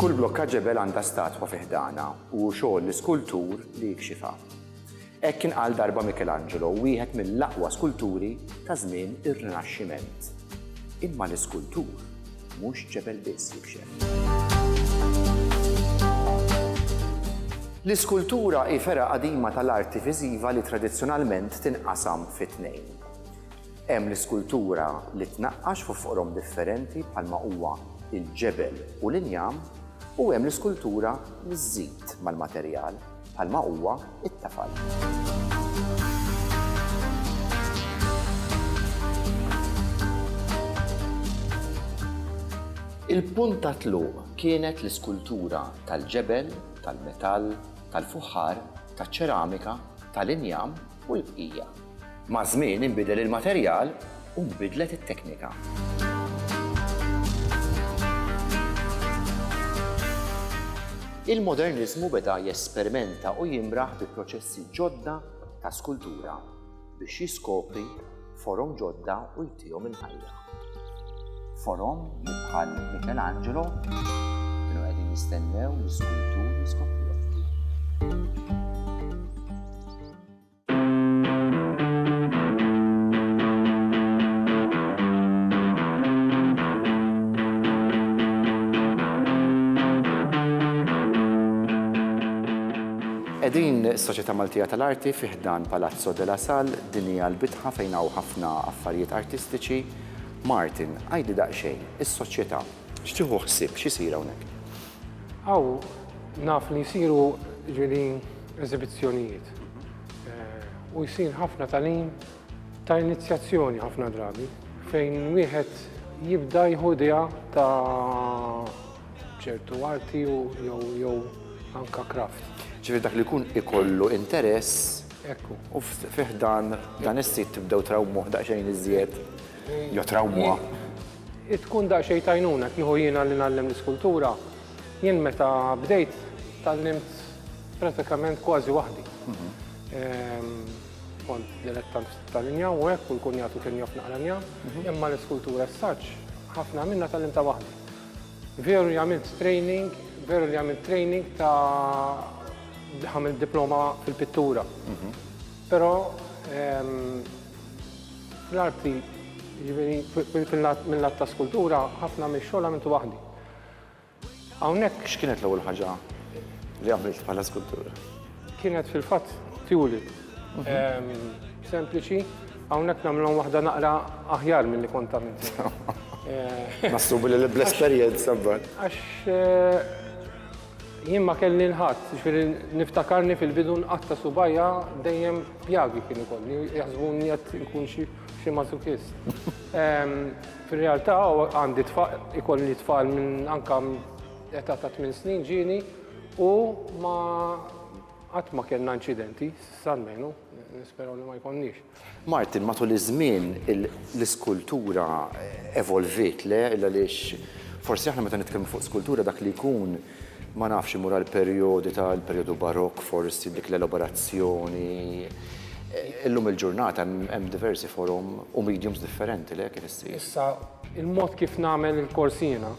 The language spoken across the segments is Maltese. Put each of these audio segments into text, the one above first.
Kull blokka ġebel għandha statwa fi ħdanha u hu xogħol l-iskultur li jikxifha. Hekk kien qal darba Michelangelo, wieħed mill-aqwa skulturi ta' żmien ir-Rinaxximent. Imma l-iskultur? Mhux ċepel biss jikxef. L-iskultura hi fergħa qadima tal-arti viżiva li tradizzjonalment tinqasam fi tnejn. Hemm l-iskultura li tnaqqax fuq foqrom differenti bħalma huwa l-ġebel u l-injam u hemm l-iskultura li żżid mal-materjal. bħalma huwa t-tafal. Il-punt ta' tluq kienet l-iskultura tal-ġebel, tal-metall, tal-fuħħar, taċ-ċeramika, tal-injam, u l-bqija. Maż-żmien inbidel il-materjal u nbidlet it-teknika. Il-Moderniżmu beda jesperimenta u jimraħ bi proċessi ġodda ta' skultura biex jiskopri forom ġodda u jtihom il-ħajja. Forom li bħal Michelangelo kienu qegħdin jistennew l-iskultur jiskopru. Edin Soċjetà Maltija tal-Arti fiħdan Palazzo della Sal Din hija l-bitħa fejn hawn ħafna affarijiet artistiċi. Martin, għidli daqsxejn, is-soċjetà, x'tieħu ħsieb, x'isir hawnhekk? Hawn naf li jsiru jiġifieri eżibizzjonijiet u jsir ħafna tagħlim ta' inizjazzjoni ħafna drabi fejn wieħed jibda jieħu idea ta' ċertu arti jew anke craft. Ġifieri dak li jkun ikollu interess Ekku. U fi ħdan dan is-sit tibdew trawmuh daqsxejn iżjed jew trawmuha. Tkun daqsxejn t'għajnuna kieku jiena li ngħallem l-iskultura, jien meta bdejt tgħallimt pratikament kważi waħdi. Kont dilettant ftit tal-injam u hekk u l-kunjatu kien jaf naqra njam, imma l-iskultura as-such ħafna minnha tgħallimtha waħdi. Veru li għamilt training, veru li għamilt training ta' għamilt diploma fil-pittura. Però fl-arti, jiġifieri fil-lat mil-lat ta' skultura, ħafna mix-xogħol għamiltu waħdi. Hawnhekk. X'kienet l-ewwel ħaġa li għamilt bħala skultur? Kienet fil-fatt tjuli. Sempliċi, hawnhekk nagħmilhom waħda naqra aħjar milli kont għamilt. Naħsbu li bl-esperjenza mbagħad. Għax eh, jien ma kelli l-ħadd, ġifieri niftakarni fil-bidu nqatta subajja dejjem pjagi kien ikolli, jaħsbuni qed ikun xi xi masochist. Fir-realtà għandi tfal, ikolli tfal minn anka età ta' 8 snin ġieni u ma Qatt ma kellna inċidenti, s'issa almenu, nisperaw li ma jkollniex. Martin, matul iż-żmien l-iskultura evolviet, le? Illa għaliex forsi aħna meta nitkellmu fuq skultura dak li jkun, ma nafx, imur għal perjodi ta' l-perjodu Barokk forsi, dik l-elaborazzjoni. Illum il-ġurnata hemm diversi forom u mediums differenti, le, kif issir? Issa, il-mod kif nagħmel il-korsi jiena,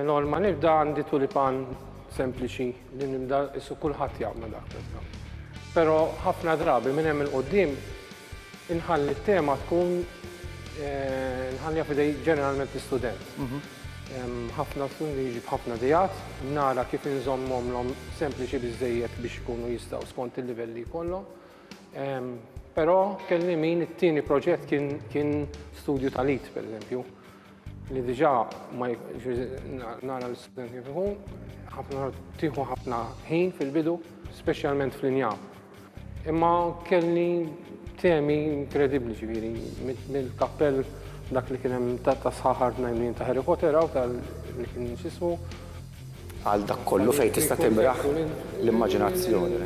Norma, nibda għandi tulipan sempliċi li nibda issu kulħadd jagħmlu dak tista'. Però ħafna drabi minn hemm il-qudiem inħalli t-tema tkun eh, nħallija fidej ġeneralment l-istudent. Mhm. Ħafna studenti jiġi b'ħafna dijat, nara kif inżommhom l sempliċi biżejjed biex ikunu jistgħu skont il-livelli kollhom. Però kelli min it-tieni proġett kien studju tal-it, per eżempju. li diġa ma nara l-student kif ikun, ħafna tiħu ħafna ħin fil-bidu, specialment fl-injam. Imma kelli temi inkredibli ġviri, mill-kappell dak li kienem ta' sħaħar t-najmin ta' Harry Potter, għaw tal-li kien xismu, għal dak kollu fejn tista' timraħ l-immaġinazzjoni.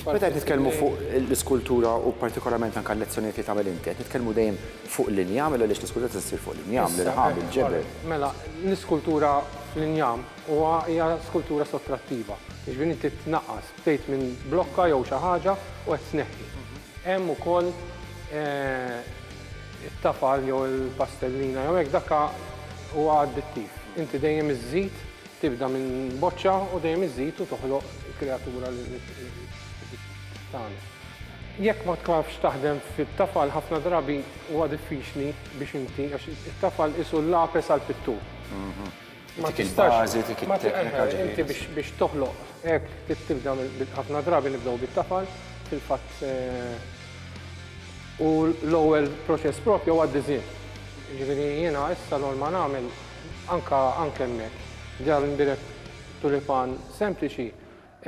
Meta qed nitkellmu fuq l-iskultura u partikolarment anke l-lezzjonijiet li tagħmel inti, qed nitkellmu dejjem fuq l-injam għaliex l-iskultura tista' ssir fuq l-injam, l-irħam, il-ġebel. Mela, l-iskultura fl-injam huwa hija skultura sottrattiva, jiġifieri inti tnaqqas, bdejt minn blokka jew xi ħaġa u qed tneħħi. Hemm ukoll it-tafal jew il-pastellina jew hekk dak huwa addittiv. Inti dejjem iżżid, tibda minn boċċa u dejjem iżżid u toħloq il-kreatura li trid tagħmel. Jekk ma tafx taħdem fit-tafal ħafna drabi huwa diffiċli biex inti, għax it-tafal qisu l-lapes għall-pittur. Ma tistax. Inti biex toħloq hekk trid tibda ħafna drabi nibdew bit-tafal fil-fatt u l-ewwel proċess proprju huwa d-disinn. Jiġifieri jiena issa norma nagħmel anke hemmhekk, ġar indirett tulipan sempliċi,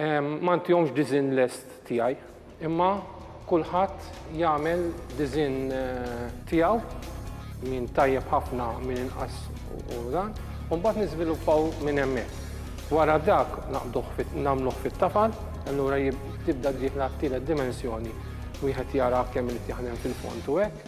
Ma ntihomx disinn lest tiegħi, imma kulħadd jagħmel disinn tiegħu, min tajjeb ħafna, min inqas u dan, u mbagħad niżviluppaw minn hemmhekk. Wara dak naqbduh nagħmluh fit-tafal, allura tibda d-dieħla għat-tielet dimensjoni, wieħed jara kemm irid jaħdem fil-fond u hekk.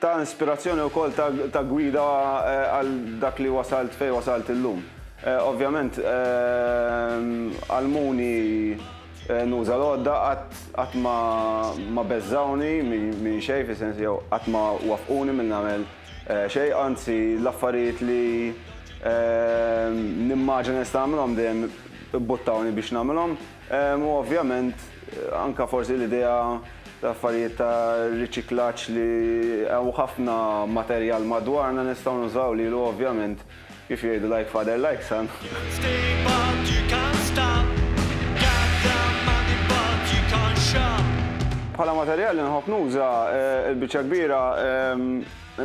Ta inspirazzjoni wkoll ta gwida għal dak li wasalt fejn wasalt illum. Ovvjament għallmuni nuża l-għodda qatt ma beżżgħuni minn xejn fis-sens jew qatt ma waffquni milli nagħmel xejn anzi l-affarijiet li nimmaġina nista' nagħmilhom dejjem ibbuttawni biex nagħmilhom. U ovvjament anke forsi l-idea ta' affarijiet ta' riċiklaġġ li hawn ħafna materjal madwarna nistgħu nużaw lilu ovvjament kif jgħidu like father like son. Bħala materjal li nħobb nuża, il-biċċa l-kbira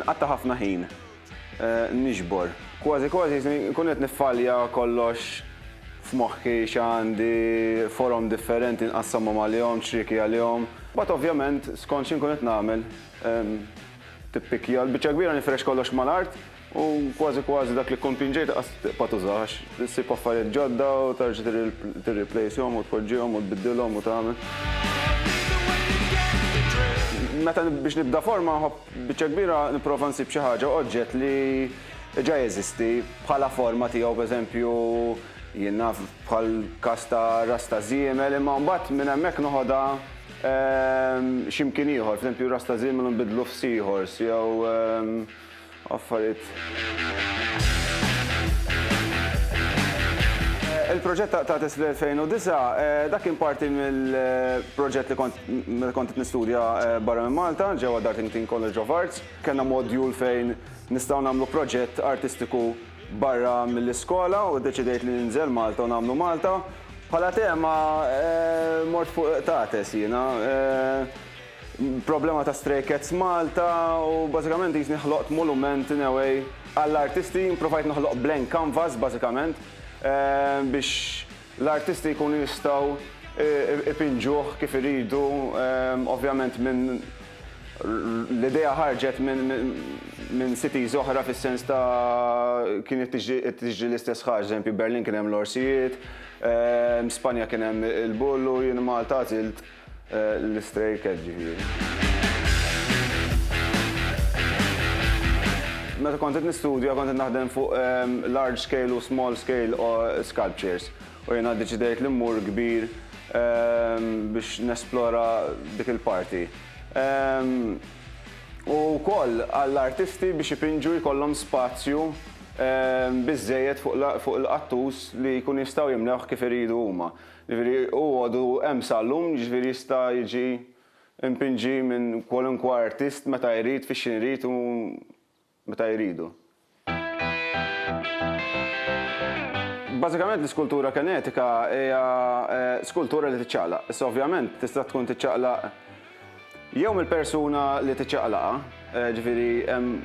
nqatta' ħafna ħin. Niġbor. Kważi kważi nkun qed niffalja kollox f'moħħi x'għandi, forom differenti nqassamhom għalihom, ċrieki għalihom. Mbagħad ovvjament skont xi nkun qed nagħmel tippikkja. Il-biċċa l-kbira nifrex kollox mal-art u kważi kważi dak li tkun pinġejt qas tibqa' tużah għax issib affarijiet ġodda u terġa' tirriplejshom u tpoġġihom u tbiddilhom u tagħmel. Meta biex nibda forma nħobb Biċċa kbira nipprova nsib xi ħaġa, oġġett li ġa jeżisti bħala forma tiegħu, pereżempju, jien naf bħall-każ ta' ras ta' żiemel, imma mbagħad minn hemmhekk noħodha xi mkien ieħor, pereżempju ras ta' żiemel u nbiddlu f'seahorse jew affarijiet Il-proġett ta' Tates fl-2009, dak kien parti mill-proġett li kont meta kont qed nistudja barra minn Malta, ġewwa Dartington College of Arts. Kellna modjul fejn nistgħu nagħmlu proġett artistiku barra mill-iskola u ddeċidejt li ninżel Malta u nagħmlu Malta. Bħala tema, mort fuq Tates jiena. Problema ta' Stray Cats Malta u bażikament qisni ħloqt molument in a way għall-artisti, provajt noħloq blank canvas bażikament biex l-artisti jkunu jistgħu ipinġuh kif iridu ovvjament minn l-idea ħarġet minn cities oħra fis-sens ta' kienet tiġri l-istess ħaġa, eżempju Berlin kien hemm l-orsijiet, Spanja kien hemm il-bull u jien Malta għażilt L-Stray Cat ġifieri. Meta kont qed nistudja kont qed naħdem fuq large scale u small scale sculptures u jiena ddeċidejt li mmur kbir biex nesplora dik il-parti. U wkoll għall-artisti biex ipinġu jkollhom spazju biżżejjed fuq il-qattus li jkunu jistgħu jimlewh kif iridu huma. Jiġifieri hu għadu hemm sal-lum, jiġifieri jista' jiġi mpinġi minn kwalunkwe artist meta jrid, fi x'ħin irid u meta jridu. Bażikament l-iskultura kenetika hija skultura li tiċċaqlaq. Issa ovvjament tista' tkun tiċċaqlaq Jew mill-persuna li tiċċaqlaqha, ġifieri hemm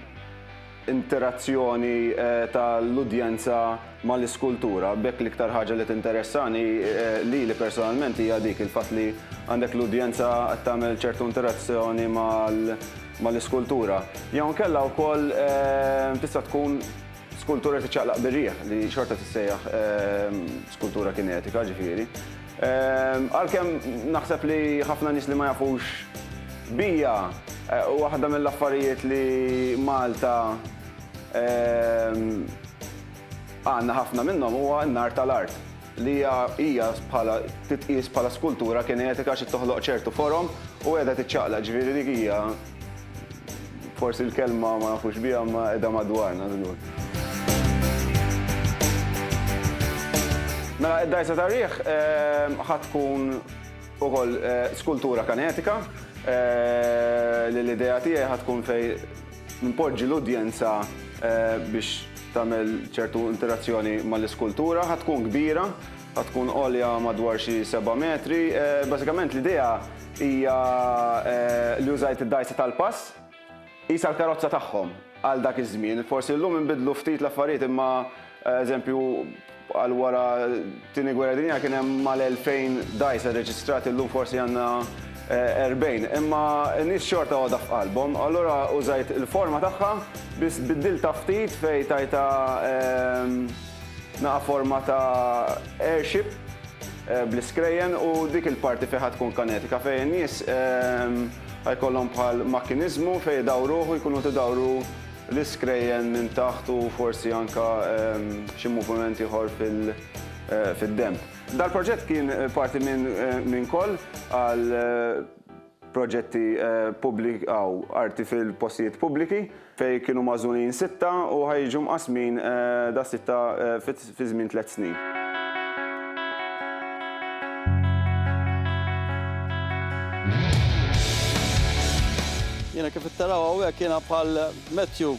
interazzjoni tal-udjenza mal-iskultura. B'hekk l-iktar ħaġa li tinteressani lili personalment hija dik, il-fatt li għandek l-udjenza qed tagħmel ċertu interazzjoni mal-iskultura. Jew inkella wkoll tista' tkun skultura li tiċċaqlaq bir-riħ, li xorta tissejjaħ skultura kinetika, ġifieri. Għalkemm naħseb li ħafna nies li ma jafux bija, waħda mill-affarijiet li Malta għandna ħafna minnhom huwa n-nar tal-art, li hija hija bħala titqies bħala skultura kinetika xi toħloq ċertu forom u qiegħda tiċċaqlaq, ġifieri dik hija Forsi l-kelma ma nafux biha ma qiegħda madwarna żgur. Mela id-dgħajsa tar-riħ ħa tkun ukoll skultura kanetika li l-idea tiegħi ħa tkun fejn npoġġi l-udjenza biex tagħmel ċertu interazzjoni mal-iskultura. Ħa tkun kbira, Ħa tkun għolja madwar xi seba' metri. Bażikament l-idea hija li użajt id-dgħajsa tal-pass qisha l-karozza tagħhom għal dak iż-żmien. Forsi llum inbidlu ftit l-affarijiet imma eżempju għal wara t-Tieni Gwerra Dinjija kien hemm mal-elfejn dgħajsa rreġistrati llum forsi għandna erbgħin. Imma n-nies xorta għodha f'qalbhom. Allura użajt il-forma tagħha biss biddiltha ftit fejn tajtha Naqa' forma ta' airship bl-iskrejjen u dik il-parti fiha tkun kanetika fejn in-nies ħajkollhom bħal makkiniżmu fejn idawruh u jkunu qed idawru l-iskrejjen minn taħt u forsi anke xi moviment ieħor fid-denb. Dal-proġett kien parti minn Call għal proġetti publik aw arti fil-postijiet publiki, fejn kienu magħżulin sitta u ħa jiġu mqassmin da sitta fi żmien tliet snin. Jiena kif qed taraw hawnhekk jiena bħal Matthew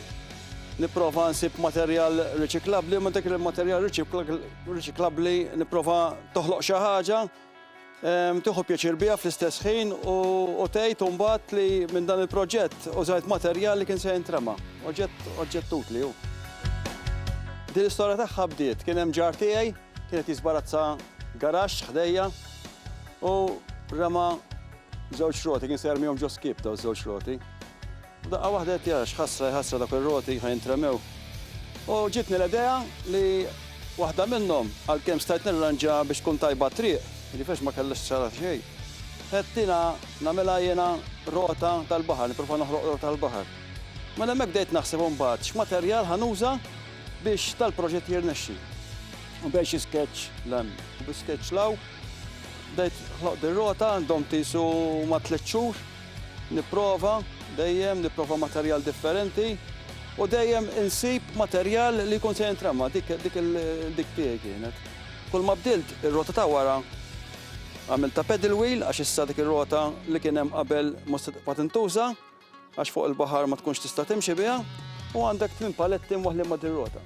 nipprova nsib materjal riċiklabbli, ma dak il-materjal riċiklabbli nipprova toħloq xi ħaġa tieħu pjaċir biha fl-istess ħin u tgħid imbagħad li minn dan il-proġett użajt materjal li kien se jintrema. Oġġett utli hu. Din l-istorja tagħha bdiet kien hemm ġar tiegħi kien qed jiżbarazza garaxx ħdejja u rema żewġ roti kien se jermihom ġo skip daw żewġ roti. F'daqqa waħda għedt jara, x'ħasra, x'ħasra dawk ir-roti ħa jintremew. U ġietni l-idea li waħda minnhom, għalkemm stajt nirranġa biex tkun tajba t-triq, jiġifieri għax ma kellha x'tixgħalha xejn, għedtilha nagħmilha jiena rota tal-baħar, nipprova noħloq rota tal-baħar. Mela hemmhekk bdejt naħseb imbagħad x'materjal ħa nuża biex dal-proġett jirnexxi. U bejn xi sketch 'l hemm u bi sketch 'l hawn, bdejt ħloqt ir-rota, domt qisu ma' tliet xhur. Nipprova, dejjem nipprova materjal differenti u dejjem insib materjal li jkun se jintrema, dik dik dik tiegħi kienet. Kull ma bdilt ir-rota ta' wara għamilta pedal wheel għax issa dik ir-rota li kien hemm qabel mhux se tibqa' tintuża għax fuq il-baħar ma tkunx tista' timxi biha u għandek tmien paletti mwaħħlin ma' din ir-rota.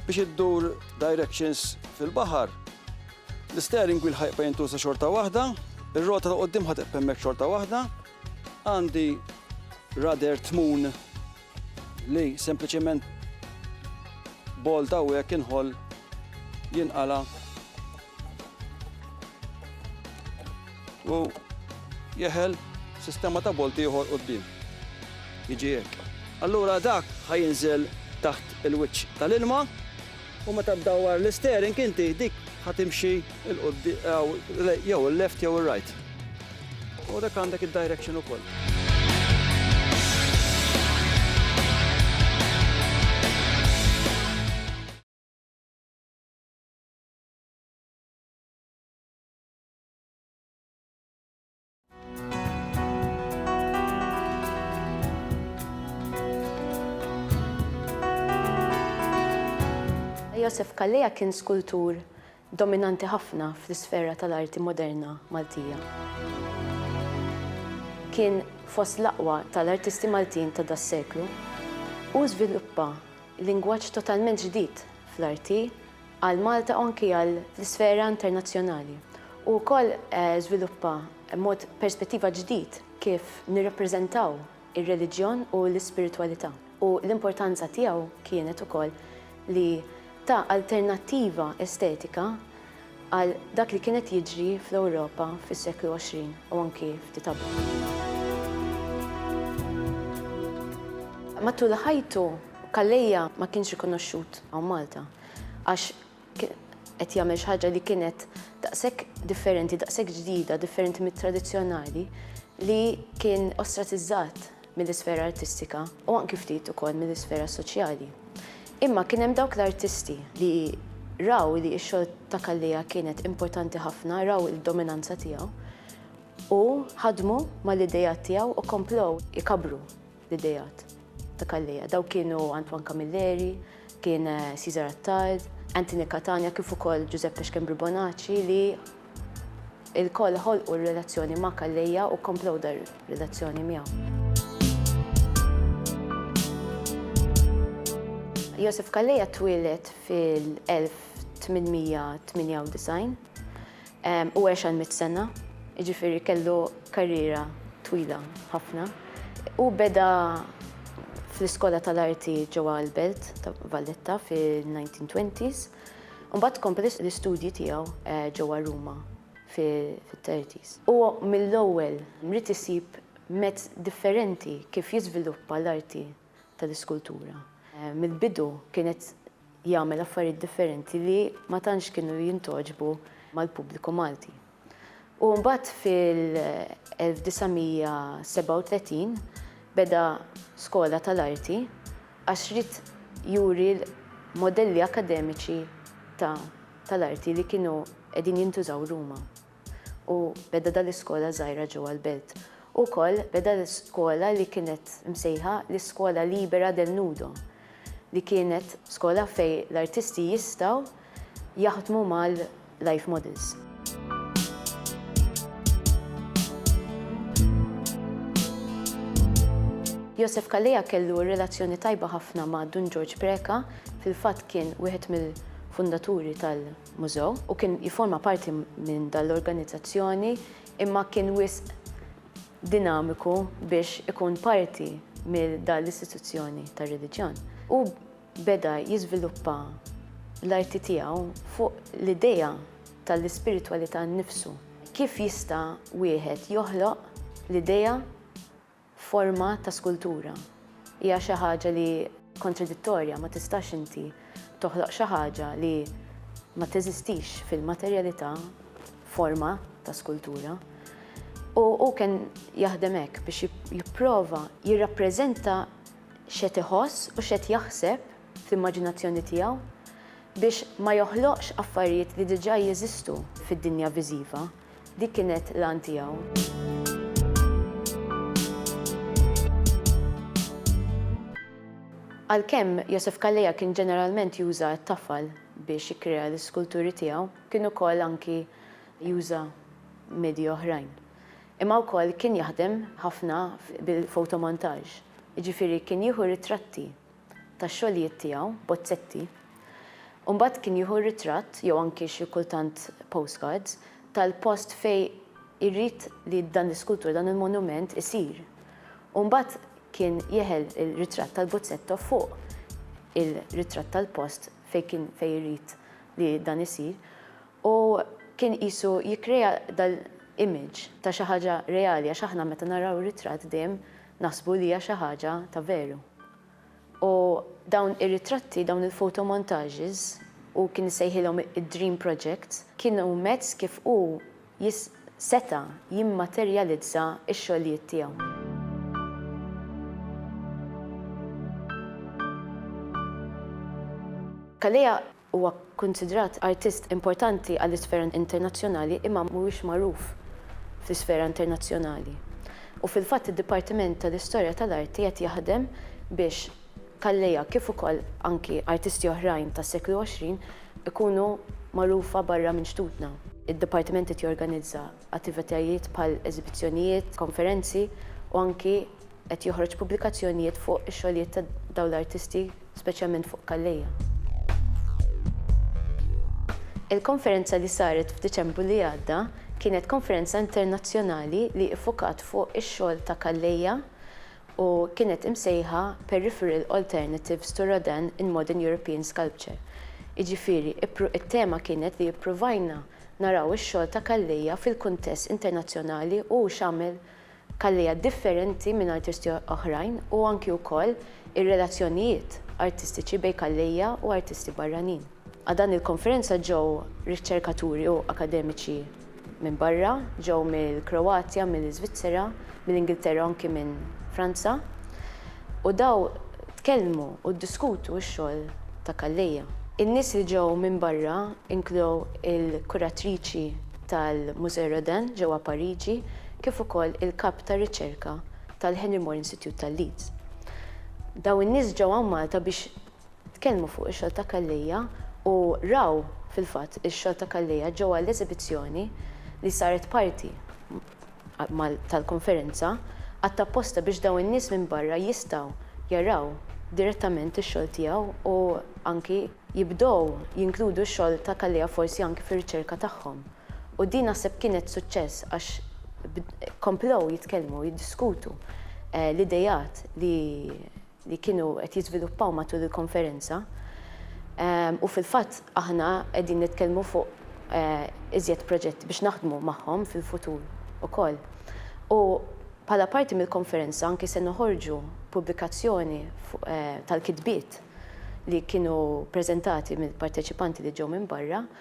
Biex iddur directions fil-baħar, L-isteering wheel ħa jibqa' jintuża xorta waħda, ir-rota ta' quddiem ħa tibqa' hemmhekk xorta waħda. Għandi rudder tmun li sempliċement bolt hawnhekk inħoll jinqala' u jeħel sistema ta' bolt ieħor quddiem. Jiġi hekk. Allura dak ħa jinżel taħt il-wiċċ tal-ilma. U meta ddawwar l-isteering inti dik ħa timxi il quddiem jew il-left jew ir-right. U dak għandek id-direction ukoll. Josef Calleja kien skultur dominanti ħafna fl-isfera tal-arti moderna Maltija. Kien fost l-aqwa tal-artisti Maltin ta' das-seklu u żviluppa lingwaġġ totalment ġdid fl-arti għal Malta u anki għal l-isfera internazzjonali. Hu wkoll żviluppa mod perspettiva ġdid kif nirrappreżentaw ir-reliġjon u l-ispiritwalità u l-importanza tiegħu kienet ukoll li ta alternattiva estetika għal dak li kien qed jiġri fl-Ewropa fis-seklu 20 u anki ftit qablu. Matul ħajtu, Calleja ma kienx rikonoxxut hawn Malta. Għax kien qed jagħmel xi ħaġa li kienet daqshekk differenti, daqshekk ġdida, differenti mit-tradizzjonali, li kien ostratizzat mill-isfera artistika u anki ftit ukoll mill-isfera soċjali. Imma kien hemm dawk l-artisti li raw li x-xogħol ta' Calleja kienet importanti ħafna, raw il-dominanza tiegħu u ħadmu mal-idejat tiegħu u komplew ikabbru L-ideat ta' Calleja, dawk kienu Antoine Camilleri, kien Cesar Attard, Anthony Catania kif ukoll Giuseppe Schembri Bonacci li il-koll ħolqu r-relazzjoni ma' Calleja u komplow dar relazzjoni miegħu. Josef Kalleja twieled fil-1898 U għex għal mitt sena, jiġifieri kellu karriera twila ħafna. Hu beda fl-Iskola tal-Arti ġewwa l-Belt ta' Valletta fin-1920s, u mbagħad kompla l-istudji tiegħu ġewwa Ruma fit-30s. Hu mill-ewwel ried isib mezz differenti kif jiżviluppa l-arti tal-iskultura. Mill-bidu kienet jagħmel affarijiet differenti li ma tantx kienu jintgħoġbu mal-pubbliku Malti. U mbagħad fil-1937 beda skola tal-arti għax ried juri l-modelli akademiċi ta' tal-arti li kienu qegħdin jintużaw Ruma. u beda dan l-iskola żgħira ġewwa l-belt. Ukoll beda l-iskola li kienet msejħa l-Escuola Libera del Nudo li kienet skola fejn l-artisti jistgħu jaħdmu mal-life models. Josef Calleja kellu relazzjoni tajba ħafna ma' Dun Ġorġ Preca, fil-fatt kien wieħed mill-fundaturi tal- Mużew u kien jifforma parti minn dan l-organizzazzjoni imma kien wisq dinamiku biex ikun parti mil dan l-istituzzjoni tar-reliġjon. Hu beda jiżviluppa l-arti tiegħu fuq l-idea tal-ispiritwalità nnifsu, kif jista' wieħed joħloq l-idea Forma ta' skultura hija xi ħaġa li kontradittorja, ma tistax inti toħloq xi ħaġa li ma teżistix fil-materjalità f'forma ta' skultura. U hu kien jaħdem hekk biex jipprova jirrappreżenta x'qed iħoss u x'qed jaħseb fl-immaġinazzjoni tiegħu biex ma joħloqx affarijiet li diġà jeżistu fid-dinja viżiva. Dik kienet l-għan tiegħu. Għalkemm Josef Calleja kien ġeneralment juża t-tafal biex jikkrea l-iskulturi tiegħu, kien ukoll anki juża medji oħrajn. Imma wkoll kien jaħdem ħafna bil-fotomontaġġ, jiġifieri kien jieħu ritratti tax-xogħlijiet tiegħu, bozzetti, u mbagħad kien jieħu ritratt jew anki xi kultant postcards tal-post fejn irid li dan l-iskultura, dan il-monument isir. U mbagħad kien jeħel ir-ritratt tal-bozzetto fuq ir-ritratt tal-post fejn kien fejn irid li dan isir u kien qisu jikkrea dal-image ta' xi ħaġa reali għax aħna meta naraw ritratt dejjem Naħsbu li hija xi ħaġa ta' veru. U dawn ir-ritratti, dawn il-photomontages, hu kien isejħilhom id-dream projects, kienu mezz kif hu seta' jimmaterjalizza x-xogħlijiet tiegħu. Calleja Huwa kkunsidrat artist importanti għall-isfera internazzjonali imma mhuwiex magħruf fl-isfera internazzjonali. U fil-fatt id-Dipartiment tal-Istorja tal-Arti qed jaħdem biex Calleja kif ukoll anki artisti oħrajn tas-seklu 20 ikunu magħrufa barra minn xtutna. Id-Dipartiment qed jorganizza attivitajiet bħal eżibizzjonijiet, konferenzi u anki. Qed joħroġ pubblikazzjonijiet fuq ix-xogħlijiet ta' dawn l-artisti, speċjalment fuq Calleja. Il-konferenza li saret f'Diċembru li għadda kienet konferenza internazzjonali li iffukat fuq ix-xogħol ta' Calleja u kienet imsejħa Peripheral Alternatives to Rodin in Modern European Sculpture. Jiġifieri, it-tema kienet li ippruvajna naraw ix-xogħol ta' Calleja fil-kuntest internazzjonali u x'għamel Kallia differenti minn artisti oħrajn u anki wkoll ir-relazzjonijiet artistiċi bejn Kallia u artisti barranin. Għal dan il-konferenza ġew riċċerkaturi u akademiċi minn barra, ġew mill-Kroatja, mill-Iżvizzera, mill-Ingilterra u anki minn Franza. U daw tkellmu u ddiskutu x-xogħol ta' Calleja. In-nies li ġew minn barra inklew il-kuratriċi tal-Musée Rodin ġewwa Pariġi kif ukoll il-kap tar-riċerka tal-Henry Moore Institute ta' Leeds. Daw in-nies ġew hawn Malta biex tkellmu fuq ix-xogħol ta' Calleja u raw fil-fatt ix-xogħol ta' Calleja ġewwa l-eżibizzjoni li saret parti tal-konferenza għadd apposta biex dawn in-nies minn barra jistgħu jaraw direttament ix-xogħol tiegħu u anki jibdew jinkludu x-xogħol ta' Calleja forsi anki fir-riċerka tagħhom. U din naħseb kienet suċċess għax komplew jitkellmu, jiddiskutu l-ideat li li kienu qed jiżviluppaw matul il-konferenza u fil-fatt aħna qegħdin nitkellmu fuq iżjed proġetti biex naħdmu magħhom fil-futur ukoll. U bħala parti mill-konferenza anki se noħorġu pubblikazzjoni tal-kitbiet li kienu preżentati mill-parteċipanti li ġew minn barra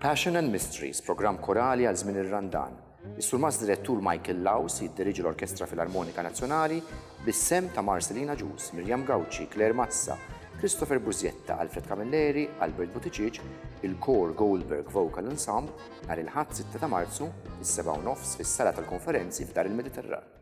Passion and Mysteries, programm korali għal żmien ir-Randan. Is-Surmast Direttur Michael Laws jiddiriġi l-Orkestra Filarmonika Nazzjonali bis-sehem ta' Marcelina Ġus, Miriam Gauci, Claire Mazza, Christopher Bużjetta, Alfred Camilleri, Albert Buttigieg, il-Kor Goldberg Vocal Ensemble nhar il-Ħadd 6 ta' Marzu, is-7 u nofs fis-Sala tal-Konferenzi f'Dar il-Mediterran.